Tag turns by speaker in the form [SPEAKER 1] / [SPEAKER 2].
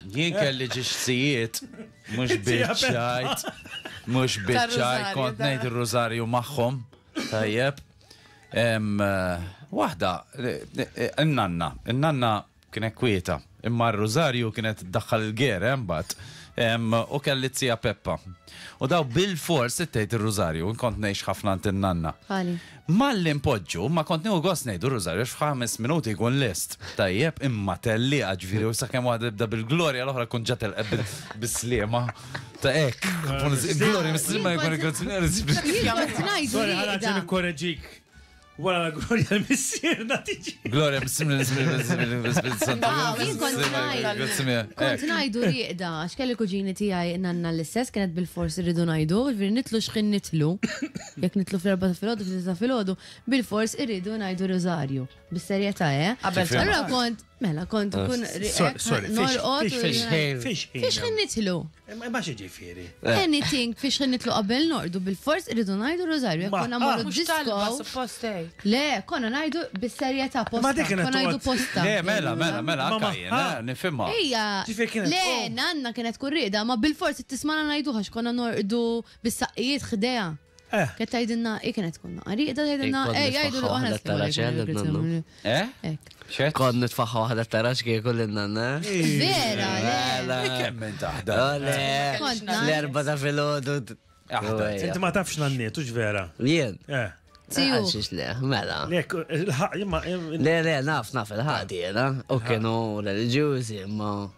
[SPEAKER 1] Jien kelli ġiġsijiet, mux bieċajt, mux bieċajt, kont nejt il-rużarju maħħom, tajjeb. Wahda, n-nanna, n-nanna kienet kwieta, imma r-rużarju kienet daħħal il-ger, embat, u kelli t-sija Peppa. U daw bil-fors t-tejt il-rużarju, kont nejx ħafna n-nanna. Malli npoġġu, ma kont nieħu gost ngħidu r-Rużarju għax f'ħames minuti jkun lest. Tajjeb, imma tellieqa ġifieri u sakemm waħda tibda bil-glorja l-oħra tkun ġa telqet bil- bis-sliema. Ta' hekk. Il-glorja mis-sliema jkun il-grazzjonari ssib Jien l-iskifja. kont ngħidu Sorry, ħana rieqda. ġen
[SPEAKER 2] ikkoreġik. Wara la glorja l-missierna tiġi. Glorja mis-sliema
[SPEAKER 1] l-iskifja santu. Wow, jien kont
[SPEAKER 3] ngħid- Grazzjonari. Kont ngħidu rieqda, għax kelli kuġini tiegħi nanna l-istess kienet bil-fors irridu ngħidu, ġifieri nitlu xħin nitlu. Jekk nitlu fl-erba ta' filgħodu, fl ta' filgħodu, bil-fors irridu ngħidu riżarju. Bis-serjetà, eh? Qabel Allura kont, mela kont ah, kun norqod. Fiex ħin nitlu? Ma xi ġifieri.
[SPEAKER 2] Eh. Anything fiex
[SPEAKER 3] ħin nitlu qabel norqdu bil-fors irridu ngħidu riżarju. Jekk konna morru disko. Le, konna ngħidu bis-serjetà posta. Konna ngħidu posta. Le, mela, mela, mela,
[SPEAKER 1] anka jiena eh, nifhimha. Ejja. Le,
[SPEAKER 3] nanna kienet kurrida, ma bil-fors tismana ngħidu ħax konna norqdu bis-saqqijiet ħdejha. Eh. Kienet tgħidilna, hi kienet tkun naqra rieqda tgħidilna, Kont ej jgħidu li nitfaħħa aħna waħda tarax, eh, lil nannu. Eh? Hekk.
[SPEAKER 4] Xed? Kont nitfaħħa waħda tarax kieku lil nanna. Vera,
[SPEAKER 3] le. Mela. Kemm minn taħda.
[SPEAKER 1] Ole, Kont nagħmel.
[SPEAKER 4] fl-erba ta' filgħodu. Aħda. Inti
[SPEAKER 2] ma tafx nanniet, ux vera. Jien. Eh.
[SPEAKER 4] Tiju. Għalxiex
[SPEAKER 3] le, mela.
[SPEAKER 4] Lek, il-ħaq, imma.
[SPEAKER 2] Le, le, naf, naf
[SPEAKER 4] il-ħadi, jena. U kienu religjuzi, imma.